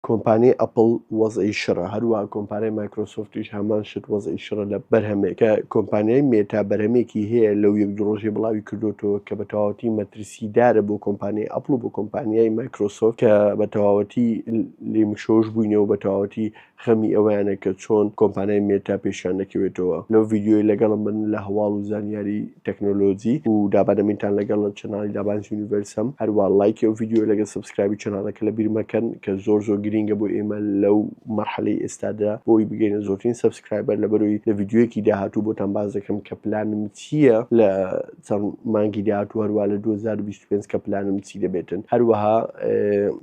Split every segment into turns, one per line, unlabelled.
کۆمپانیای ئەپڵ وەزعی شڕە هەروە کۆمپانای مایکرۆسۆفتیش هەمان شت وەزعی شڕە لە بەرهەمێکە کۆمپانیای مێتا بەرەمێکی هەیە لەو یەک درۆژی بڵاوی کردوتەوە کە بە تەواوەتی مەترسیدارە بۆ کۆمپانیای ئەپڵ و بۆ کۆمپانیای مایکرۆسۆفت کە بە تەواوەتی لیمشۆش بووینەوە بە تەواوەتی خەمی ئەویانە کە چۆن کۆمپانای مێتا پێشان دەکەوێتەوە لەو یددیوی لەگەڵم بن لە هەواڵ و زانیاری تەکنۆلۆجی و دابەنە مینتان لەگەڵ چەناڵی دابانس یونیڤەرسەم هەروا ڵایکی ئەو ڤیدیۆ لەگەڵ سەبسکرایبی چەناڵەکە لە بیر مەکەن کە زۆر زۆر گرینگە بۆ ئێمە لەو مەرحەلەی ئێستادا بۆی بگەینە زۆرترین سەبسکرایبەر لەبەرەوەی لە ڤیدیۆیەکی داهاتوو بۆتان باس دەکەم کە پلانم چییە لە چەند مانگی داهاتوو هەروا لە 2025 کە پلانم چی دەبێتن هەروەها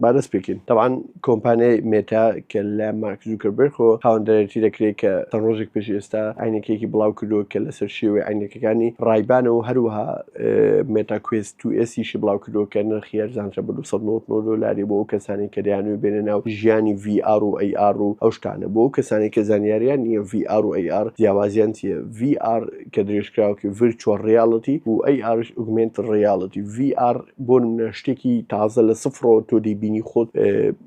با دەست پێکەین تەبعەن کۆمپانیای مێتا کە لە مارک زوکەربێرخۆ هاوەندەرێتی دەکرێت کە تە ڕۆژێک پێش ئێستا عینەکەیەکی بڵاو کردووە کە لەسەر شێوەی عینەکەکانی ڕایبانە و هەروەها مێتا کوێست تو ئێسیشی بڵاو کردووە کە نرخی هەرزانترە بە 299 دۆلاری بۆ ئەو کەسانی کە دەیانوێ بێنە ناو ژیانی VR و AR و ئەو شتانە بۆ ئەو کەسانی کە زانیاریان نییە VR و AR جیاوازیان چییە VR کە درێژکراوەکەی ڤیرچوەڵ ڕیاڵتی و ئەی ئارش ئوگمنت ڕیاڵتی VR بۆ نمونە شتێکی تازە لە سفرەوە تۆ دەیبینی خۆت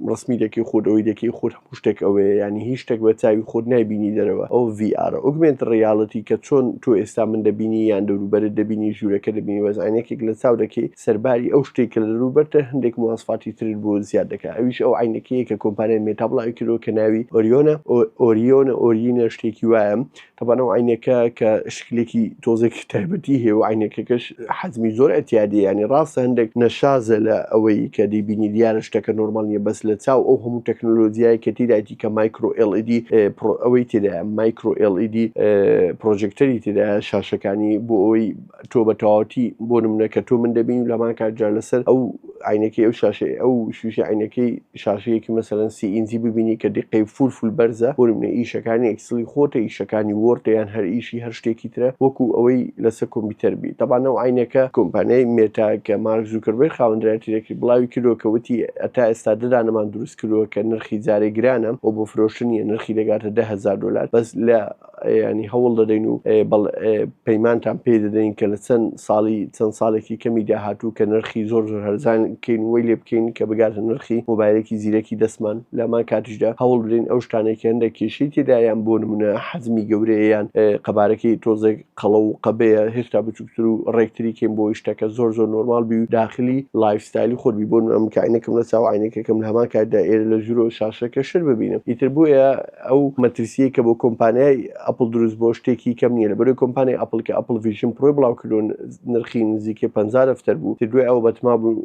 ڕسمی دەکەی خۆت ئەوەی دەکەی خۆت هەموو شتێک ئەوەیە ینی هیچ شتێک بە چاوی خۆت نایبینی دەرەوە ئەو VR ئوگمنت ڕیاڵتی کە چۆن تۆ ئێستا من دەبینی یان دەوروبەرت دەبینی ژوورەکە دەبینی وەزانێکێک لە چاو دەکەی سەرباری ئەو شتێک کە لە دەروبەرتە هەندێک مواسفاتی ترت بۆ زیاد دەکە ئەویش ئەو عینەکەیە کە کۆمپانیای مێتا بڵاوی کردەوە کە ناوی ئۆریۆنە ئۆریۆنە ئۆرینە شتێکی وایە تەبعەن ئەو عەینەکە کە شکلێکی تۆزێکی تایبەتی هەیە و عینەکەکەش حەزمی زۆر ئەتیادی ینی ڕاستە هەندێک نەشازە لە ئەوەی کە دەیبینی دیارە شتەکە نۆرمال نیە بەس لە چاو ئەو هەموو تەکنۆلۆژیای کە تیدایتی کە مایکرۆ LED ئەوەی تێدا مایکرۆ LED پرۆژێکتەری تێدا شاشەکانی بۆ ئەوی تۆ بە تەواوەتی بۆ نمونە کە تۆ من دەبین و لەمان کات جار لەسەر ئەو عینەکەی ئەو شاشەی ئەو شوشی عینەکەی شاشەیەکی مەسەرەن سی ئینجی ببینی کە دیقەی فول فول بەرزە بۆ نمونە ئیشەکانی ئەکسلی خۆتە ئیشەکانی وۆرتە یان هەر ئیشی هەر شتێکی ترە وەکو ئەوەی لەسەر کۆمپیوتەر بی تەبانە و عینەکە کۆمپانیای مێتا کە مارک زوکربەر خاوەندرایەتی دەکرد بڵاوی کردەوە کە وتی ئەتا ئێستا ددانەمان دروست کردووە کە نرخی جارێ گرانە و بۆ فرۆشتنیە نرخی دەگاتە دە هەزار دۆلار بەس لە یانی هەوڵ دەدەین و پەیمانتان پێ دەدەین کە لە چەند ساڵی چەند ساڵێکی کەمی داهاتوو کە نرخی زۆر زۆر هەرزان کەین وی لێ بکەین کە بگاتە نرخی مۆبایلێکی زیرەکی دەستمان لەمان کاتیشدا هەوڵ بدەین ئەو شتانێکی هەندە کێشی تێدایان بۆ نمونە حەزمی گەورەیان قەبارەکەی تۆزێک قەڵە و قەبەیە هێشتا بچووکتر و ڕێکتری کەین بۆ شتەکە زۆر زۆر نۆرمال بی و داخلی لایفستایلی خۆبی بۆ ئەم کاینەکەم لە چاوانەکەکەم لە هەمان کاتدا ئێرە لە ژورۆ شاشەکە شر ببینم ئیتر بۆیە ئەو مەترسیەی کە بۆ کۆمپانیای ئەپڵ دروست بۆ شتێکی کەم نیە لە بەرەی کۆمپانیای ئەپڵ کە ئەپڵ ڤژن پرۆی بڵاوکردون نرخی نزیکەی پ دەفتەر بوو تر دوای ئەوە بەتما بوو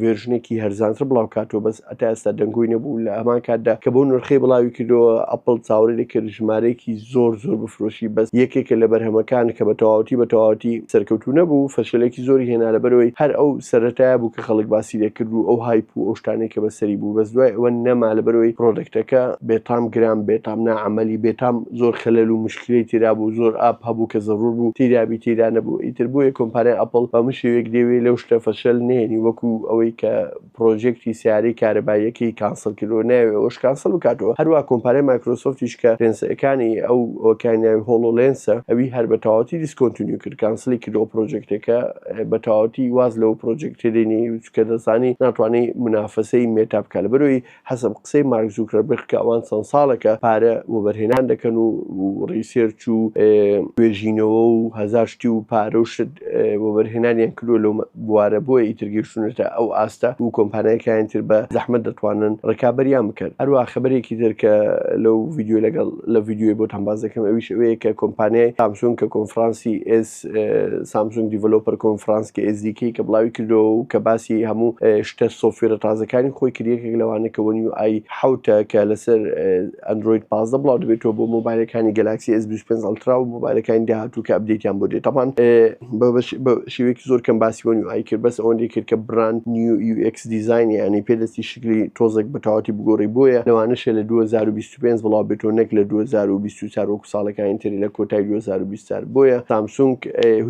ڤێرژنێکی هەرزانتر بڵاو کاتەوە بەس ئەتا ئێستا دەنگۆی نەبوو لە هەمان کاتدا کە بۆ نرخی بڵاوی کردەوە ئەپڵ چاوەڕێ دەکرد ژمارەیەکی زۆر زۆر بفرۆشی بەس یەکێکە لە بەرهەمەکان کە بە تەواوەتی بە تەواوەتی سەرکەوتوو نەبوو فەشەلێکی زۆری هێنا لە بەرەوەی هەر ئەو سەرەتایە بوو کە خەڵک باسی لێکرد و ئەو هایپ و ئەو شتانەی کە بەسەری بوو بەس دوای ئەوە نەما لەبەرەوەی پرۆدەکتەکە بێتام گران بێتام ناعەمەلی بێتام زۆر خەلەل و مشکلەی تێدا بوو زۆر ئاپ هەبوو کە زەرور بوو تیرابی تێدا نەبوو ئیتر بۆیە کۆمپانیای ئەپڵ بەمە شێوەیەک دەیەوێ لەو شتە فەشەل نێنی وەکو ئەوەی کە پرۆژێکتی سیارەی کارەباییەکەی کانسڵ کردەوە نایەوێ ئەوەش کانسڵ بکاتەوە هەروە کۆمپانیای مایکرۆسۆفتیش کە پێنسەکانی ئەو ئەوەکانیان هۆڵۆ لێنسە ئەوی هەر بە تەواوەتی دیسکۆنتینیو کرد کانسڵی کردەوە پرۆجێکتەکە بە تەواوەتی واز لەو پرۆجێکتە دێنی چکە دەزانی ناتوانانی منافەسەی مێتا بکە لە بەرەوەی حەسب قسەی مارک زوکرەبرخ کە ئەوان چەند ساڵێکە پارە وەبەرهێنان دەکەن و ڕیسێرچ و توێژینەوە و هەزار شتی و پارە و شت وەبەرهێنانیان کردو لەو بوارە بۆیە ئیتر گەیشتونەتە ئەو ئاستە و کۆمپانیایەکەیان تر بە زەحمەت دەتوانن ڕکابەریان بکەن هەروە خبرێکی تر کە لەو ڤیددیو لەگەڵ لە ڤیددیوی بۆ تەمبازەکەم ئەویش ئەوەیە کە کۆمپانیای تامسون کە کۆنفرانسی ئێس سامسونگ دیڤلۆپەر کۆنفڕانس کە ئێس دی کەی کە بڵاوی کردەوە و کە باسی هەموو شتە سۆفوێرە تازەکانی خۆی کرد یەکێک لەوانە کە وەن یو ئای حەوت ە کە لەسەر ئەندرۆید پازدە بڵاو دەبێتەوە بۆ مۆبایلەکانی گەلاکسی ئێس بیست و پێنج ئەڵترا و مۆبایلەکانی داهاتوو کە ئەپدەیتیان بۆ دێت تاپان بە شێوەیەکی زۆر کەم باسی وەن یو ئای کرد بەس ئەوەندەی کرد کە براند نیو یو ئێکس دیزاینیانی پێ دەستی شکلی تۆزێک بە تەواوەتی بگۆڕی بۆیە لەوانەشە لە دوو هەزار و بیست سوپێنس بڵاو بێتەوە نەک لە 2024 وەکو ساڵەکانی تری لە کۆتای 2024 بۆیە سامسونگ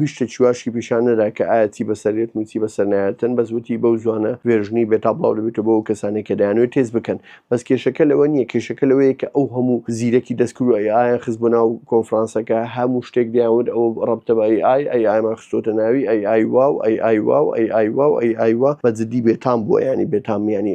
هیچ شتێکی واشی پیشان نەدا کە ئایا چی بەسەرێت و چی بەسەر نایەتن بەس وتی بەو زوانە ڤێرژنی بێتا بڵاو دەبێتەوە بۆ ئەو کەسانێک کە دەیانوێت تێز بکەن بەس کێشەکە لەوە نییە کێشەکە لەوەیە کە ئەو هەموو زیرەکی دەستکرد و ئایان خست بۆ ناو کۆنفرانسەکە هەموو شتێک دەیانوت ئەو ڕەبتە بە ئەی ئای ئەی ئایمان خستۆتە ناوی ئەی ئای واو ئەی ئای واو ئەی ئای واو ئەی ئای وا بە جدی بێتام بووە ینی بێتام ینی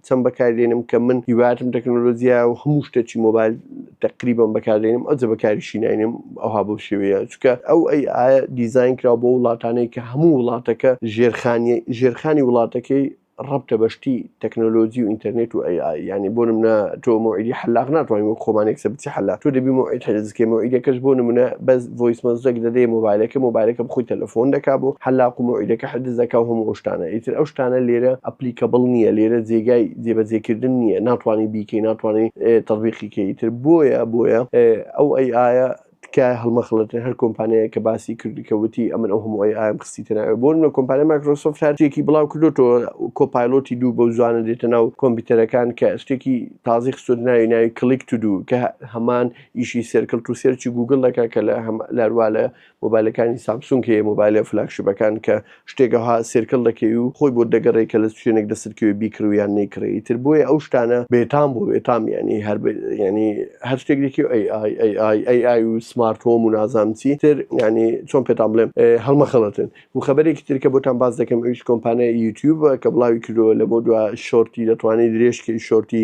چەند بەکاردێنم کە من هیواتم تەکنۆلۆژیا و هەموو شتەچی مۆبایل تقریبم بەکاردێنم ئەو جە بەکاریشی ناینم ئەوها بۆ شێوەیە چکە ئەو ئەی ئاە دیزین کرا بۆ وڵاتانەی کە هەموو وڵاتەکە ژێرخانی ژێرخانی وڵاتەکەی ڕبتە بەشتی تەکنۆلۆژی و ئینتەرنێت و ئەی ینی بۆ منە تۆ مۆعیدی حلاق ناتوانین وە خۆمانێکسە بچی حلا تۆ دەبی مۆعیدکەی مۆعیدەکەش بۆ منە بەس ڤۆیس مەسجەک دەدەیە مۆبایلەکە مۆبایلەکە خۆی تەلەفۆن دەکا بۆ حەلاق و مەوعیدەکە حجز دەکا و هەموو ئەو شتانە ئیتر ئەو شتانە لێرە ئەپلیکەبڵ نییە لێرە جێگای جێبەجێ کردن نییە ناتوانی بیکەی ناتوانی تەطبیقی کەی ئیتر بۆیە بۆیە ئەو ئەی ئایە تکایە هەڵمەخڵەتێ هەر کۆمپانیایە کە باسی کرد کە وتی ئەمن ئەو هەموو ئەی ئایم خستیتە ناوێ بۆ نمونە کۆمپانیای مایکرۆسۆفت هەر شتێکی بڵاو کردوتەوە کۆپایلۆتی دوو بەو زوانە دێتە ناو کۆمپیوتەرەکان کە شتێکی تازەی خستۆتە ناوی ناوی کلیک تو دوو کە هەمان ئیشی سێرکل تو سێرچی گوگل دەکا کە لە هەم لاروا لە مۆبایلەکانی سامسونگ هەیە مۆبایلە فلاگشیپەکان کە شتێک ئەوها سێرکل دەکەی و خۆی بۆت دەگەڕێ کە لە شوێنێک دەستت کەوێ بیکڕی یان نەیکڕی ئیتر بۆیە ئەو شتانە بێتام بۆ بێتام یانی هەر یانی هەر شتێک دەکی ئەی ئای ئەی ئای ئەی ئای و سمارت هۆم و نازانم چی تر یانی چۆن پێتان بڵێم هەڵمەخەڵەتن و خەبەرێکی تر کە بۆتان باس دەکەم ئەویش کۆمپانیای یوتیوب کە بڵاوی کردەوە لەمەو دوا شۆرتی دەتوانێت درێژکەی شۆرتی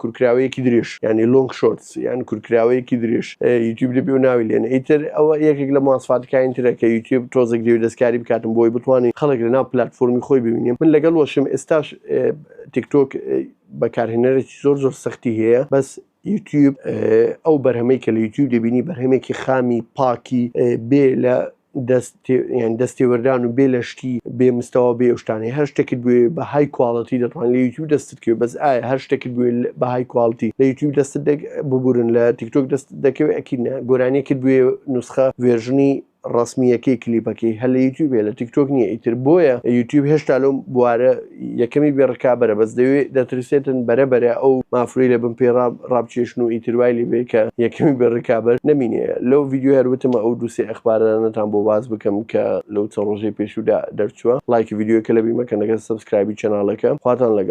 کورکراوەیەکی درێژ یعنی لۆنگ شۆرتس یان کورکراوەیەکی درێژ یوتیوب دەبێ و ناوی لێن ئیتر ئەوە یەکێک لە مواسفاتەکانی ترە کە یوتیوب تۆزێک دێو دەستکاری بکاتم بۆی بتوانین خەڵک لە ناو پلتفۆرمی خۆی ببینیم من لەگەڵ وەشم ئێستاش تیکتۆک بەکارهێنەرێکی زۆر زۆر سەختی هەیە بەس یوتیوب ئەو بەرهەمەی کە لە یوتیوب دەبینی بەرهەمێکی خامی پاکی بێ لە دەستێوەردان و بێ لە شتی بێ مستەوە بێ شتانی هەر شتێکت بێ بە های کوالڵەتی دەتوان لە یوتیوب دەستت کرد بەس ئایا هەر شتێکت بێ بە های کوالڵتی لە یوتیوب دەست ببورن لە تیکتۆک دەست دەکەوێت ئەکینا گۆرانیەکت بێ نوسخە وێژنی ڕەسمییەکەی کلیپەکەی هەر لە یوتیوبێ لە تیکتۆک نییە ئیتر بۆیە یوتیوب هێشتا لەو بوارە یەکەمی بێ ڕکابەرە بەس دەوێ دەترسێتن بەرە بەرە ئەو مافرەی لە بن پێی ڕاب ڕابکێشن و ئیتر وای لێ بێ کە یەکەمی بێ ڕکابەر نەمینێ لەو ڤیدیۆ هەر وتم ئەو دوو سێ ئەخبارانەتان بۆ باس بکەم کە لەو چەند ڕۆژەی پێشوودا دەرچووە ڵایکی ڤیدیۆکە لەبیر مەکەن لەگەر سەبسکرایبی چەناڵەکە خواتان لەگەڵ.